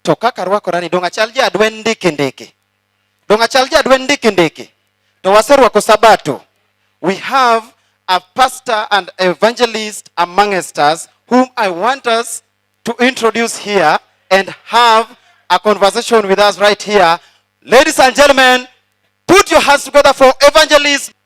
To kaka arwakora ni donge achal ja adwen ndiki ndiki? Donge achal ja adwen ndiki ndiki? To waserwako Sabato. We have a pastor and evangelist amongst us whom I want us to introduce here and have a conversation with us right here. Ladies and gentlemen, put your hands together for evangelist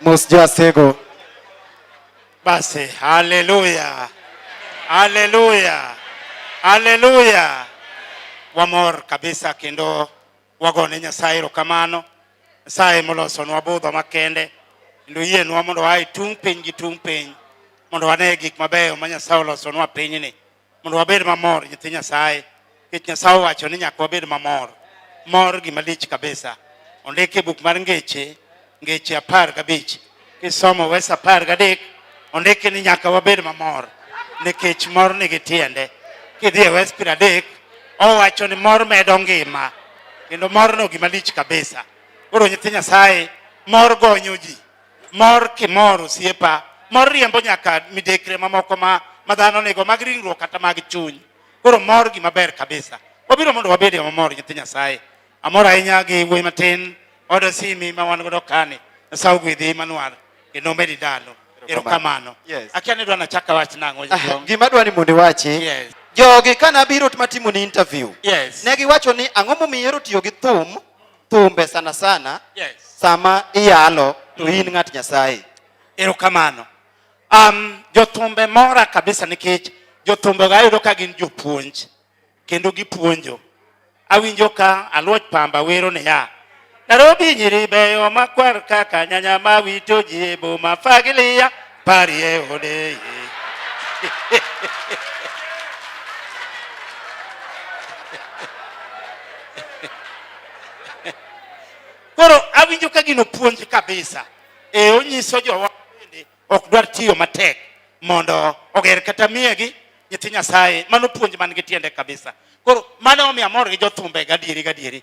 Mosjasego. Basi, haleluya, haleluya, haleluya. Wamor kabisa kendo wagone Nyasaye erokamano. Nyasaye molosonwa budho makende kendo yienwa mondo wae tung' piny gi tung' piny mondo wane gik mabeyo ma Nyasaye olosonwa pinyni. mondo wabed mamor nyithi Nyasaye nikech Nyasaye owacho ni nyaka wabed mamor mor gima lich kabisa ondike buk mar ngeche ngeche apar gabich kisomo wes apar gadek ondike ni nyaka wabed mamor nikech mor nigi tiende kidhi e wes piero adek owacho ni mor medo ngima kendo morno gima lich kabisa koro nyithi Nyasaye mor gonyo ji Mor kimor osiepa, mor riembo nyaka midekre mamoko ma ma dhano nigo mag ringruok kata mag chuny. Koro mor gima ber kabisa. Wabiro mondo wabed e mamor nyithi Nyasaye. Amor ahinya gi wuoyi matin oda simi ma wan godo kani. Nyasaye ogwedhi Emmanuel kendo omedi dalo. Erokamano. Yes. Akia ni dwa nachaka wach nang'o. Ah, gima dwa ni mondo iwachi. Yes. Jogi ka nabiro matimo ni interview. Yes. Ne giwacho ni ang'o momiyo ihero tiyo gi thum thumbe sana sana yes. sama iyalo to in ng'at Nyasaye. Erokamano. Um, jothumbe mora kabisa nikech jothumbe ga ayudo ka gin jopuonj kendo gipuonjo. Awinjo ka Aluoch Pamba wero niya, Nairobi nyiri beyo makwar kaka nyanya mawito ji e boma fagilia Parie ode. Koro awinjo ka gino puonj kabisa. E onyiso jowa bende ok dwar tiyo matek mondo oger kata miyegi nyithi Nyasaye. Mano puonj man gi tiende kabisa. Koro mano omiyo amor gi jothumbe gadieri gadieri.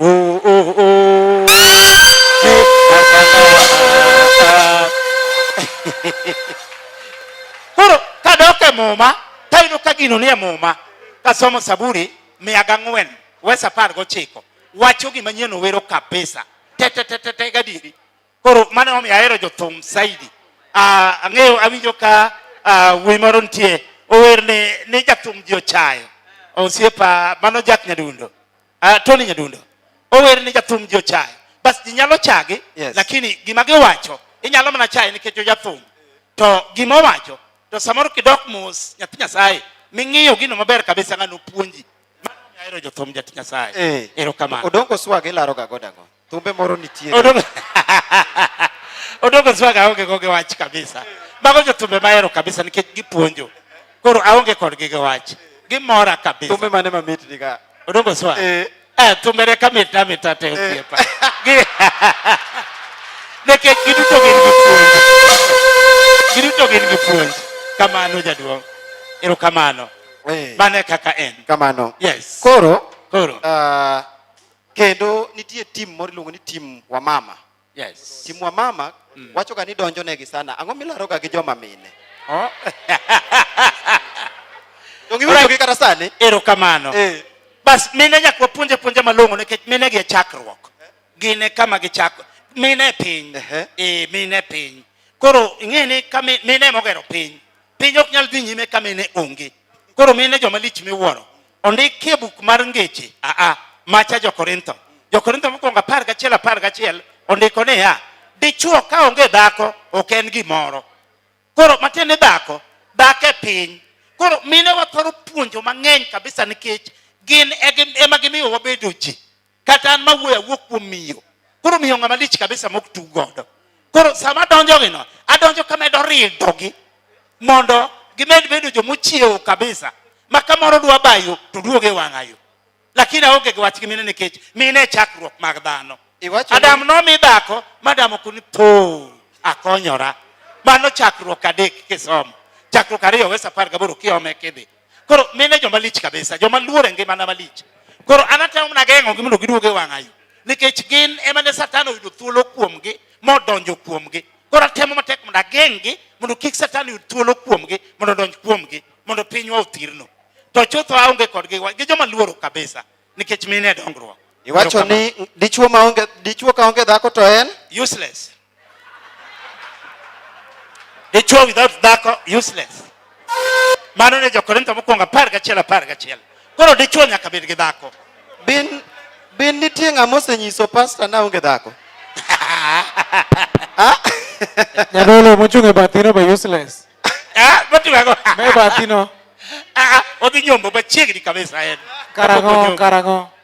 Oh, oh, oh. Koro kadok e Muma tayudo ka gino nie Muma kasomo Saburi mia gang'wen wes apar gochiko wacho gima nyien owero kabisa tetetetete gadieri. Koro mano omiyo ahero jothum saidi. Ah, ang'eyo awinjo ka ah, wuoyi moro nitie ower ni, ni jathum ji ochayo osiepa mano Jack Nyadundo uh, Tony Nyadundo ower ni jathum ji ochaye bas ji nyalo chagi yes. lakini gima giwacho inyalo mana chaye nikech ojathum to gima owacho to samoro kidok mos nyathi nyasaye ming'iyo gino maber kabisa ng'ano puonji mano ahero jothum jat nyasaye eh. erokamano odongo swag ilaroga godago Thumbe moro nitie. Odoko Odoko Swaga aonge go gi wach kabisa. Mago jo thumbe mahero kabisa nikech gipuonjo. Koro aonge kodgi gi wach. Gimora kabisa. Thumbe mane mamit ni ka? Odoko Swaga. Eh. Eh, thumbe ne kamit amit ate eh. osiepa. Nikech giduto gin gi puonj. Giduto gin gi puonj. Kamano jaduong'. Ero kamano. Eh. Mane kaka en. Kamano. Yes. Koro. Koro. Uh, Kendo nitie tim moro iluongo ni tim wamama. Yes. Tim wamama mm. wachoga ni donjo negi sana. Ang'o milaroga gi joma mine? Oh. Dongi wito gi kata sani. Erokamano. Eh. Bas mine nyaka wapuonje puonje malong'o nikech mine gi e chakruok. Gin e kama gichako. Mine e piny. Eh, e, mine e piny. Koro ing'e ni ka mine mogero piny. Piny ok nyal dhi nyime ka mine onge. Koro mine joma lich miwuoro. ondik e buk mar ngeche aa macha jokorintho jokorintho mokwongo apar gachiel apar gachiel ondiko niya dichuo ka onge dhako ok en gimoro koro matiende dhako dhako e piny koro mine wathoro puonjo mang'eny kabisa nikech gin e ema gimiyo wabedo ji kata an mawuoyo awuok kuom miyo koro miyo ng'ama lich kabisa mok tug godo koro sama adonjogino adonjo kamedo ridogi mondo gimed bedo jomochiewo kabisa ma kamoro dwa bayo to duoge wang'ayo lakini aonge gi wach gi mine nikech mine e chakruok mag dhano adam nomi dhako madam okuni po akonyora mano chakruok adek kisomo chakruok ariyo wes apar gaboro kiome kidhi Koro mine joma lich kabisa, joma luor e ngimana malich. Koro an atemo mana geng'ogi mondo giduog e wang'ayo nikech gin ema ne Satan oyudo thuolo kuomgi modonjo kuomgi. Koro atemo matek mondo ageng'gi mondo kik Satan yud thuolo kuomgi mondo odonj kuomgi mondo pinywa othirno. To chutho aonge kodgi gi joma luoro kabisa nikech mine e dongruok. Iwacho ni dichuo maonge dichuo kaonge dhako to en useless. Dichwo without dhako useless. Mano ne Jokorintho mokwongo apar gachiel apar gachiel. Koro dichwo nyaka bed gi dhako. Bin bin nitie ng'ama osenyiso pasta na onge dhako. Ah? Nyadolo mochung' e bathino be useless. Ah, motiwago. Me bathino. Ah, ah, odhi nyombo machiegni kabisa en. Karang'o karang'o.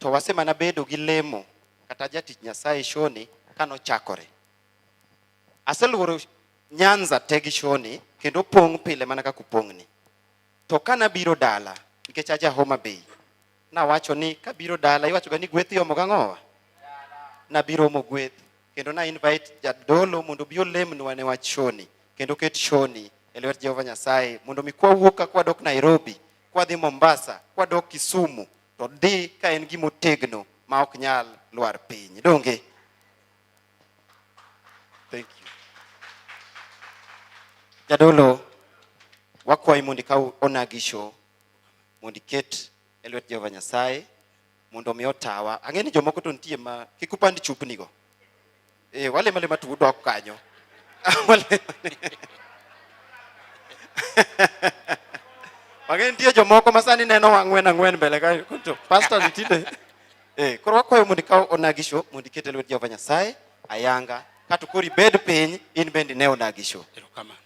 To wasemana bedo gi lemo kata jatich Nyasaye Shoni kano chakore. Aseluoro Nyanza te gi Shoni kendo pong' pile mana kaka upong'ni. To kana biro dala nikech aja Homa Bay, nawacho ni kabiro dala iwacho ga ni gweth iomo gang'owa. Nabiro omo gweth kendo na invite jadolo mondo obi olemnwa ne wach Shoni kendo ket Shoni e lwet Jehova Nyasaye mondo mi kwawuok ka kwadok Nairobi kwadhi Mombasa, kwadok Kisumu to dhi ka en gima otegno ma ok nyal lwar piny. Donge? Thank you. Jadolo, wakwayi mondo ikaw onagi show mondo iket e lwet Jehova Nyasaye mondo omi otawa. Ang'e ni jomoko to nitie ma kik upand chupnigo. Eh, wale male matu udok kanyo. Wale. Wage nitie jomoko masani neno wang'wen ang'wen mbele ka kunto. Pastor nitinde. Eh, koro wakwayo mondo ikaw onagisho mondo iket e lwet Jehova Nyasaye ayanga kato koro ibed piny in bende ne onagisho. Erokamano.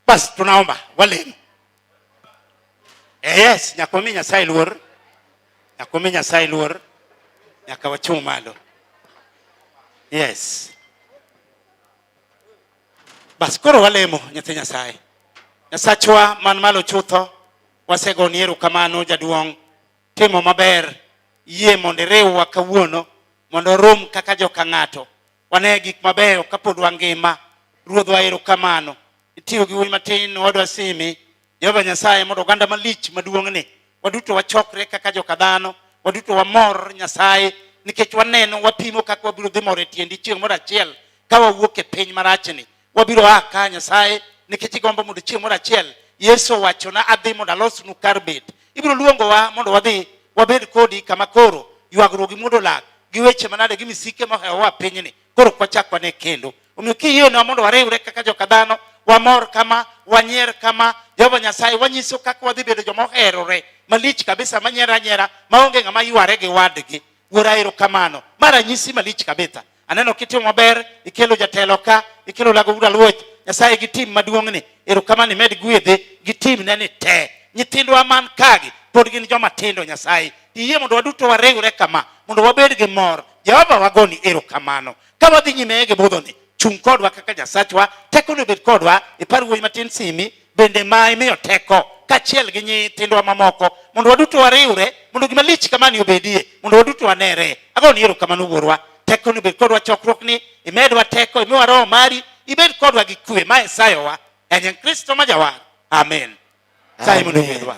Basi tunaomba walemu. Eh, yes, nyaka wami Nyasaye luor. Nyaka wami Nyasaye luor. Nyaka wachung' malo. Yes. Bas koro walemo nyathi Nyasaye. Nyasachwa man malo chutho, wasegoni erokamano jaduong' timo maber, yie mondo iriwwa kawuono mondo orum kaka joka ng'ato Wane gik mabeyo kapod wangima. Ruodhwa erokamano. Itiyo gi wuoyi matin owadwa Simi. Jehova Nyasaye mondo oganda malich maduong'ni waduto wachokre kaka joka dhano, waduto wamor Nyasaye nikech waneno wapimo kaka wabiro dhi mor e tiendi chieng' moro achiel ka wawuok e piny marachni. wabiro a ka Nyasaye nikech igombo mondo chieng' moro achiel Yesu owachona adhi mondo alosnu kar bet. Ibiro luongowa mondo wadhi wabed kodi kama koro ywagruok gi muodo lak gi weche manade gi misike mohewowa pinyni koro ok wachak wane kendo. Omiyo kiyienwa mondo wariwre kaka joka dhano wamor kama wanyier kama Jehova Nyasaye wanyiso kaka wadhi bedo joma oherore malich kabisa manyiera nyiera maonge ng'ama yware gi wadgi. Wuora erokamano. Ma ranyisi malich kabisa. Aneno kitimo maber, ikelo jatelo ka, ikelo lago ura luoch. Nyasaye gi tim maduong' ni, erokamano imed gwedhe gi tim ne ni te. Nyithindwa man kagi pod gin joma tindo Nyasaye. Iyie mondo waduto wariwre kama mondo wabed gi mor. Jehova wagoni erokamano. Ka wadhi nyime gi budhoni, chung' kodwa kaka Nyasachwa, tekoni obed kodwa. Ipar wuoyi matin Simi, bende ma imiyo teko kachiel gi nyithindwa mamoko mondo waduto wariwre mondo gima lich kamani obedie mondo waduto wanere ago ni erokamano wuorwa teko ni bed kodwa chokruok ni imedwa teko imiwa roho mari ibed kodwa gi kwe ma esayowa enye kristo ma jawar amen sayi mondo yiedwa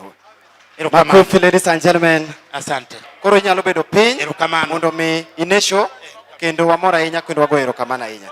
Makofi, ladies and gentlemen. Asante. Koro inyalo bedo piny mondo mi inesho kendo wamor ahinya kendo wagoyo erokamano ahinya.